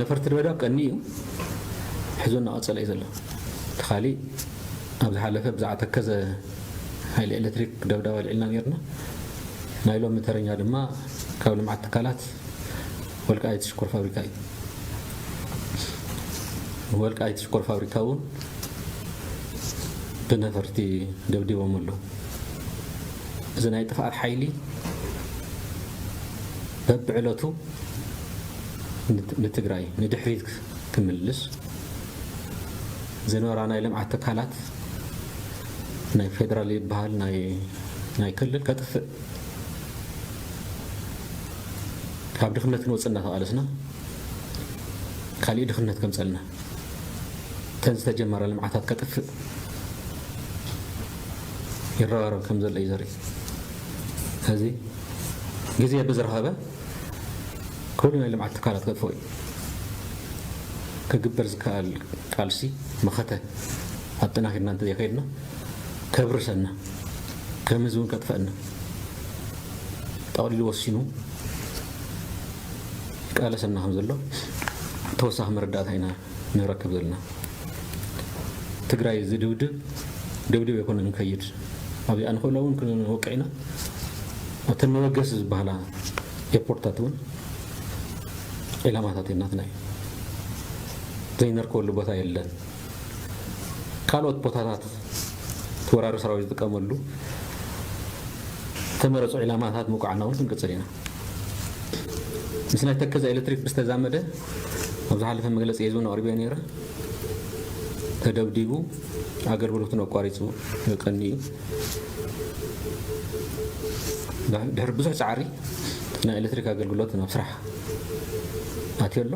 ነፈርቲ ድበዳብ ቀኒ እዩ ሕዞ እናቐፀለ እዩ ዘሎ እቲ ካሊእ ኣብ ዝሓለፈ ብዛዕባ ተከዘ ሓይሊ ኤሌክትሪክ ደብዳብ ኣልዒልና ነርና ናይ ሎሚ ተረኛ ድማ ካብ ልምዓት ትካላት ወልቃይት ሽኮር ፋብሪካ እዩ። ወልቃይት ሽኮር ፋብሪካ እውን ብነፈርቲ ደብዲቦም ኣለዉ። እዚ ናይ ጥፍኣት ሓይሊ በብዕለቱ ንትግራይ ንድሕሪት ክምልስ ዝነበራ ናይ ልምዓት ትካላት ናይ ፌደራል ይበሃል ናይ ክልል ከጥፍእ ካብ ድኽነት ክንወጽእ እናተቓለስና ካሊእ ድኽነት ከምጸልና እተን ዝተጀመራ ልምዓታት ከጥፍእ ይረባረብ ከም ዘሎ እዩ ዘርኢ እዚ ግዜ ብዝረኸበ ኩሉ ናይ ልምዓት ትካላት ከጥፍኦ እዩ ክግበር ዝከኣል ቃልሲ መኸተ ኣጠናኺርና እንተዘይከይድና ከብርሰና ከም ህዝቢ ውን ከጥፈእና ጠቕሊሉ ወሲኑ ይቃለሰና ከም ዘሎ ተወሳኺ መረዳእታ ኢና ንረክብ ዘለና ትግራይ ዝድብድብ ደብድብ ኣይኮነ ንከይድ ኣብዚኣ ንክእሎ እውን ክንወቅዕ ኢና ኣብተን መበገሲ ዝበሃላ ኤርፖርትታት እውን ዒላማታት ናትና እዩ ዘይነርከበሉ ቦታ የለን ካልኦት ቦታታት እቲ ወራሪ ሰራዊት ዝጥቀመሉ ዝተመረፁ ዒላማታት ምውቃዕና እውን ክንቅፅል ኢና። ምስ ናይ ተከዘ ኤሌክትሪክ ብዝተዛመደ ኣብ ዝሓለፈ መግለፂ እውን ኣቕሪበዮ ነይረ። ተደብዲቡ ኣገልግሎቱን ኣቋሪፁ ቀኒ እዩ። ድሕሪ ብዙሕ ፃዕሪ ናይ ኤሌክትሪክ ኣገልግሎት ናብ ስራሕ ኣትዮ ኣሎ።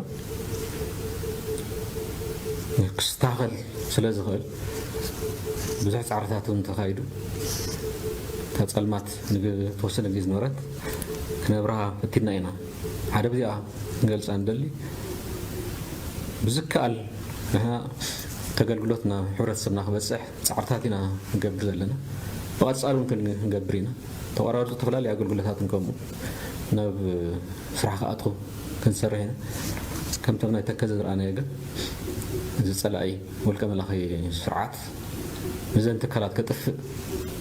ክስታኸል ስለ ዝኽእል ብዙሕ ጻዕርታት እውን ተኻይዱ እታ ጸልማት ንተወሰነ ግዜ ዝነበረት ክነብርሃ ፈቲና ኢና ሓደ ብዚኣ ክንገልጻ ንደሊ ብዝከኣል ንሕና ተገልግሎት ናብ ሕብረተሰብና ክበጽሕ ጻዕርታት ኢና ንገብር ዘለና ብቐጻሊ እውን ክንገብር ኢና ተቋራርጹ ዝተፈላለዩ ኣገልግሎታትን ከምኡ ናብ ስራሕ ክኣትኹ ክንሰርሕ ኢና ከምቶም ናይ ተከዘ ዝረኣናዮ ግን እዚ ጸላኢ ውልቀ መላኺ ስርዓት ንዘን ትካላት ከጥፍእ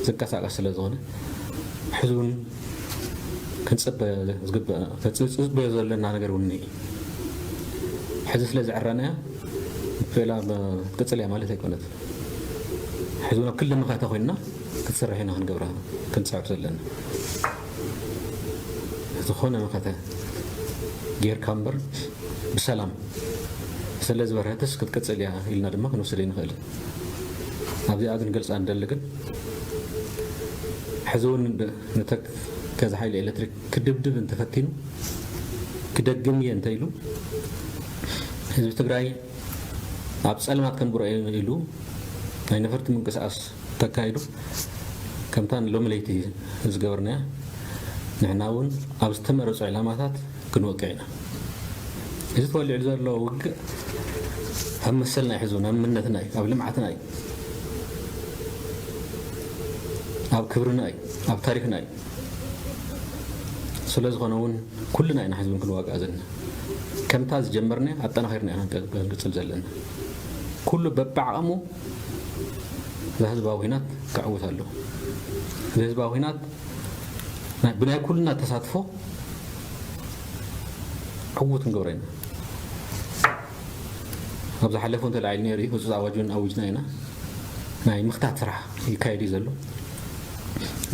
ዝንቀሳቀስ ስለ ዝኾነ ሕዚ ውን ክንጽበ ዝግበእና ተጽጽበዮ ዘለና ነገር ውን እዩ ሕዚ ስለ ዝዕረናያ ፌላ ክትቅጽል እያ ማለት ኣይኮነት ሕዚ ውን ኣብ ክልል መኸተ ኮይንና ክትሰርሕ ኢና ክንገብራ ክንጽዕብ ዘለና ዝኾነ መኸተ ጌርካ እምበር ብሰላም ስለዝበርሀትስ ክትቅጽል እያ ኢልና ድማ ክንወስድ ኣይንኽእልን። ኣብዚኣ ክንገልጻ ንደሊ ግን ሕዚ እውን ንተከዘ ሓይሊ ኤሌክትሪክ ክድብድብ እንተፈቲኑ ክደግም እየ እንተኢሉ ህዝቢ ትግራይ ኣብ ጸልማት ከንብሮ እየ ኢሉ ናይ ነፈርቲ ምንቅስቓስ ተካይዶ ከምታ ንሎሚ ለይቲ ዝገበርናያ ንሕና እውን ኣብ ዝተመረፁ ዕላማታት ክንወቅዕ ኢና። እዚ ተወሊዑ ዘሎ ውግእ ኣብ መሰልና ኣይሕዙን፣ ኣብ ምነትና እዩ፣ ኣብ ልምዓትና እዩ፣ ኣብ ክብርና እዩ፣ ኣብ ታሪኽና እዩ። ስለዝኾነ እውን ኩልና ኢና ሕዚ እውን ክንዋጋእ ዘለና። ከምታ ዝጀመርናያ ኣጠናኺርና ኢና ክንቅፅል ዘለና። ኩሉ በብዓቕሙ እዛ ህዝባዊ ኩናት ከዕውት ኣለዎ። እዚ ህዝባዊ ኩናት ብናይ ኩልና ተሳትፎ ዕዉት ክንገብሮ ኢና። ኣብ ዝሓለፈ እውን ተላዒሉ ነይሩ እዩ፣ ህፁፅ ኣዋጅ እውን ኣዊጅና ኢና። ናይ ምኽታት ስራሕ ይካየድ እዩ ዘሎ።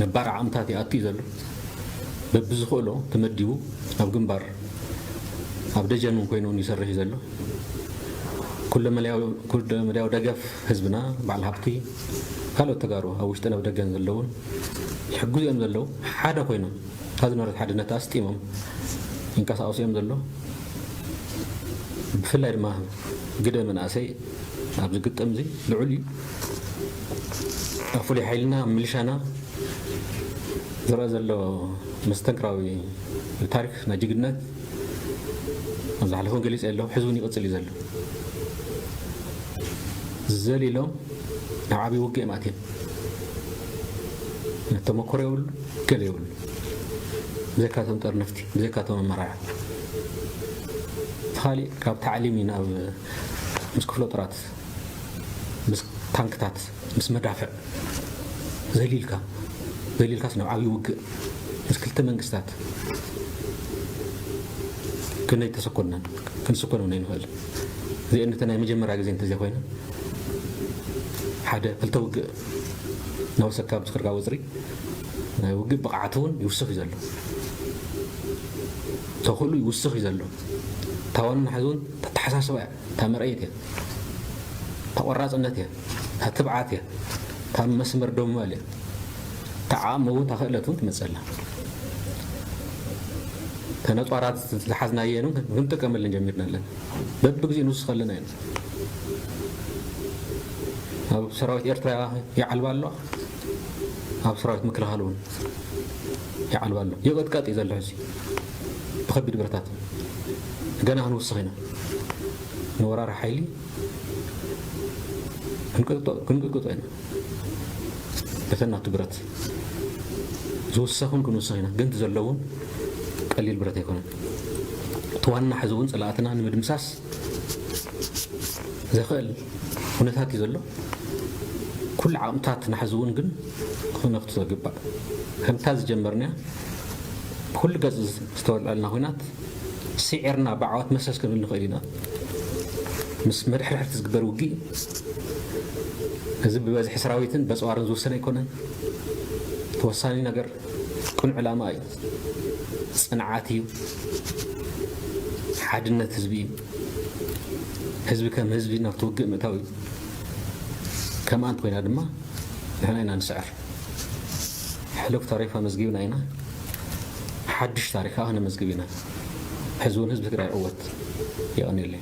ነባር ዓቕምታት ይኣቱ እዩ ዘሎ። በብዝኽእሎ ተመዲቡ ኣብ ግንባር ኣብ ደጀን እውን ኮይኑ እውን ይሰርሕ እዩ ዘሎ። ኩለመዳያዊ ደገፍ ህዝብና፣ በዓል ሃብቲ፣ ካልኦት ተጋሩ ኣብ ውሽጥን ኣብ ደገን ዘለዉን ዝሕግዙ እዮም ዘለዉ። ሓደ ኮይኖም እታ ዝነበረት ሓድነት ኣስጢሞም ይንቀሳቐሱ እዮም ዘለዉ። ብፍላይ ድማ ግደ መናእሰይ ኣብዚ ግጥም እዚ ልዑል እዩ። ኣብ ፍሉይ ሓይልና ኣብ ምልሻና ዝረኣ ዘሎ መስተንክራዊ ታሪኽ ናይ ጅግንነት፣ ኣብ ዝሓለፈ ገሊፀ ኣለኹ ሕዚ እውን ይቕፅል እዩ ዘሎ ዘሊሎም ናብ ዓብዪ ውግእ እዮም ኣትዮም ተመክሮ የብሉ ገለ የብሉ ብዘካቶም ጠርነፍቲ ብዘካቶም ኣመራርሓ ካሊእ ካብ ታዕሊም ናብ ምስ ክፍለ ጦራት ምስ ታንክታት ምስ መዳፍዕ ዘሊልካ ዘሊልካስ ናብ ዓብይ ውግእ ምስ ክልተ መንግስታት ክንደይ ተሰኮንና ክንስኮን እውን ኣይንኽእል እዚኤን እተን ናይ መጀመርያ ግዜ እንተዘይኮይነን ሓደ ክልተ ውግእ ናወሰካ ኣብ ዝኽርካ ወፅሪ ናይ ውግእ ብቕዓት እውን ይውስኽ እዩ ዘሎ ተኽእሉ ይውስኽ እዩ ዘሎ ታዋንና ሕዚ እውን ተተሓሳስባ እያ እታ መርኣዪት እያ። እታ ቆራጽነት እያ። እታ ትብዓት እያ። እታ መስመር ደው ምባል እያ። እታ ዓቕሚ እውን እታ ክእለት እውን ትመጽእ ኣላ። እተን ኣጽዋራት ዝሓዝናየን እውን ክንጥቀመለን ጀሚርና ኣለና። በብግዜኡ ንውስኽ ኣለና ኢና። ኣብ ሰራዊት ኤርትራ ይዓልባ ኣሎ። ኣብ ሰራዊት ምክልኻል እውን ይዓልባ ኣሎ። ይቕጥቀጥ እዩ ዘሎ ሕዚ ብከቢድ ብረታት ገና ክንውስኽ ኢና። ንወራሪ ሓይሊ ክንቅጥቅጦ ኢና በተን ናቱ ብረት ዝውሰኹን ክንውሰኽ ኢና ግን ዘለውን ቀሊል ብረት ኣይኮነን እቲ ዋና ሕዚ እውን ፀላእትና ንምድምሳስ ዘኽእል ኩነታት እዩ ዘሎ ኩሉ ዓቕምታት ንሓዚ እውን ግን ክነኽቱ ዘግባእ ከምታ ዝጀመርናያ ብኩሉ ገፅ ዝተወልዐልና ኩናት ስዒርና ብዓወት መሰስ ክንብል ንኽእል ኢና። ምስ መድሕርሕርቲ ዝግበር ውግእ እዚ ብበዝሒ ሰራዊትን በጽዋርን ዝውሰን ኣይኮነን። እቲ ወሳኒ ነገር ቅኑዕ ዕላማ እዩ፣ ጽንዓት እዩ፣ ሓድነት ህዝቢ እዩ። ህዝቢ ከም ህዝቢ ናብቲ ውግእ ምእታው እዩ። ከም ኣንት ኮይና ድማ ንሕና ኢና ንስዕር። ሕሉፍ ታሪኽ ኣመዝጊብና ኢና ሓዱሽ ታሪኽ ከኣ ከነመዝግብ ኢና ሕዚ ውን ህዝቢ ትግራይ ይዕወት የቀንየለይ።